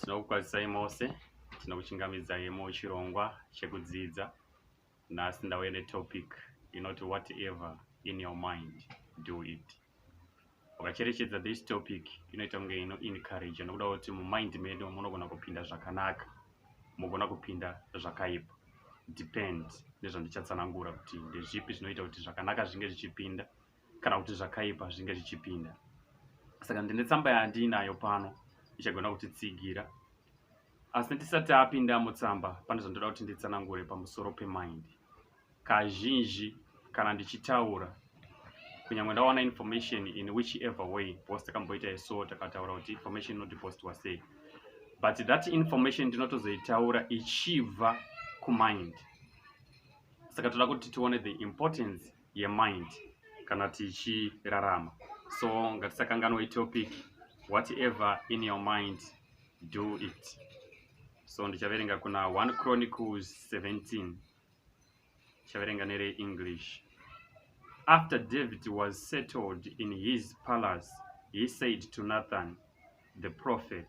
tinokukwazisai mose tinokuchingamidzai muchirongwa chekudzidza nhasi ndauya netopic inoti whatever in your mind do it ukacherechedza this topic inoita kunge ino encourage nokuda kuti mumind medu munogona kupinda zvakanaka mugona kupinda zvakaipa depend nezvandichatsanangura kuti ndezvipi zvinoita kuti zvakanaka zvinge zvichipinda kana kuti zvakaipa zvinge zvichipinda saka ndine tsamba yandiinayo pano ichagona kutitsigira asi ndisati apinda mutsamba pane zvandoda kuti nditsanangure pamusoro pemind kazhinji kana ndichitaura kunyangwe ndawana information in which ever way post takamboita iso takataura kuti information inoti post wasei but that information ndinotozoitaura ichibva kumind saka toda kuti tione the importance yemind kana tichirarama so ngatisakanganwa itopic whatever in your mind do it so ndichaverenga kuna 1 chronicles 17 ndichaverenga nereenglish after david was settled in his palace he said to nathan the prophet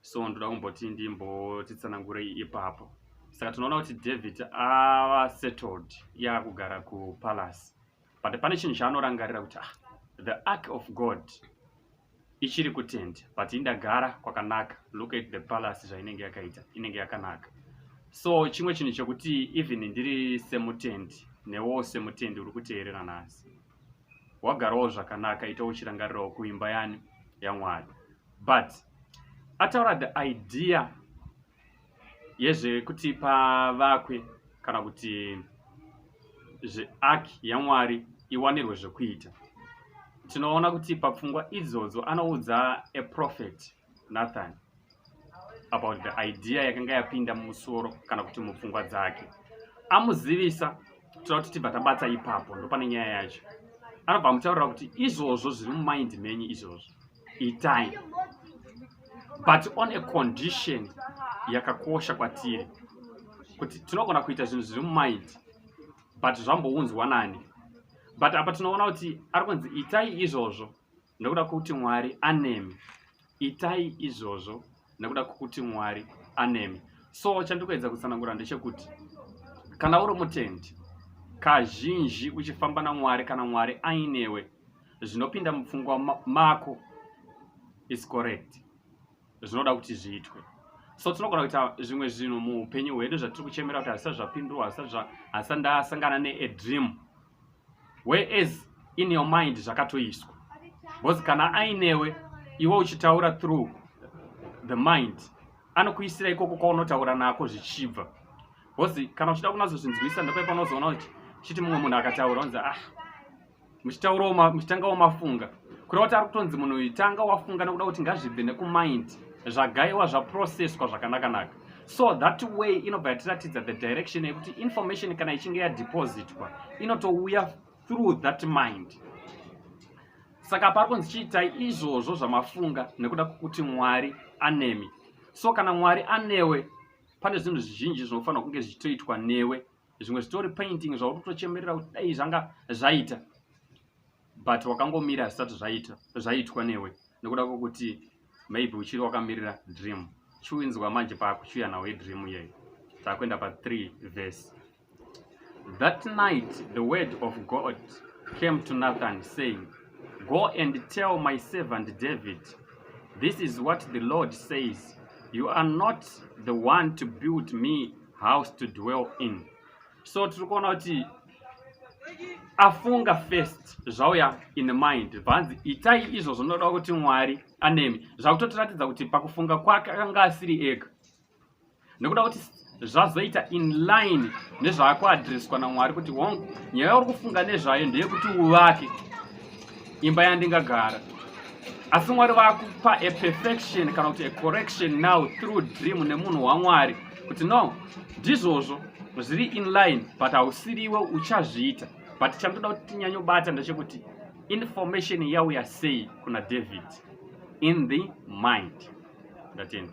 so ndoda kumboti ndimbotitsanangurei ipapo saka tinoona kuti david ava settled yaakugara kupalace but pane chinhu chaanorangarira kuti ah, the ark of god ichiri kutende but indagara kwakanaka look at the palace zvainenge yakaita inenge yakanaka so chimwe chinhu chekuti even ndiri semutendi newo semutendi uri kuteerera nhasi wagarawo zvakanaka ita uchirangarirawo kuimba yani yamwari but ataura the idea yezvekuti pavakwe kana kuti zveark yamwari iwanirwe zvekuita tinoona kuti papfungwa idzodzo anoudza aprofet Nathan about the idea yakanga yapinda mumusoro kana kuti mupfungwa dzake amuzivisa toda kuti tibva tabatsa ipapo ndopane nyaya yacho anobva amutaurira kuti izvozvo zviri mumaindi menyu izvozvo itai but on a condition yakakosha kwatiri kuti tinogona kuita zvinhu zviri mumaindi but zvambounzwa nani but apa tinoona kuti ari kunzi itai izvozvo Ndokuda kuti Mwari anemi. Itai izvozvo nekuda kwokuti Mwari anemi. So chandikuedza kutsanangura ndechekuti kana uri mutendi kazhinji uchifamba naMwari kana Mwari ainewe zvinopinda mupfungwa mako is correct zvinoda kuti zviitwe so tinogona kuita zvimwe zvinhu muupenyu hwedu zvatiri kuchemera kuti hazvisati zvapindurwa hazvisati ndasangana neadream whereas in your mind zvakatoiswa because kana ainewe iwe uchitaura through the mind anokuisira ikoko kwaunotaura nako zvichibva because kana uchida kunazozvinzwisa ndopai panozoona kuti chiti mumwe munhu akataura onzi ah muchitaurawo muchitangawo mafunga kureva kuti ari kutonzi munhu uyu tanga wafunga nekuda kuti ngazvibve nekumind zvagaiwa zvaprocesswa zvakanakanaka so that way inobva yatiratidza the direction yekuti information kana ichinge yadepositwa inotouya through that mind saka pari kunzi chiitai izvozvo zvamafunga nekuda kwokuti mwari anemi so kana mwari anewe pane zvinhu zvizhinji zvinofanira kunge zvichitoitwa newe zvimwe zvitori painting zvautotochemerera kuti dai zvanga zvaita but wakangomira zvisati zvaita zvaitwa newe nekuda kwokuti maybe uchiri wakamirira dream chiwinzwa manje paakuchiuya nawo idream iyeyo taakuenda pa3 verse that night the word of god came to nathan saying go and tell my servant david this is what the lord says you are not the one to build me house to dwell in so tiri kuona kuti afunga first zvauya in mind bvanzi itai izvo zvinoda kuti mwari anemi zvakutotiratidza kuti pakufunga kwake akanga asiri ega nekuda kuti zvazoita in line nezvaakuadresswa namwari kuti hongu nyaya yauri kufunga nezvayo ndeyekuti uvake imba yandingagara asi mwari vakupa a perfection kana kuti a correction now through dream nemunhu wamwari kuti no ndizvozvo zviri in line but hausiriwe uchazviita but chandoda kuti tinyanyobata ndechekuti information yauya sei kuna david in the mind ndatenda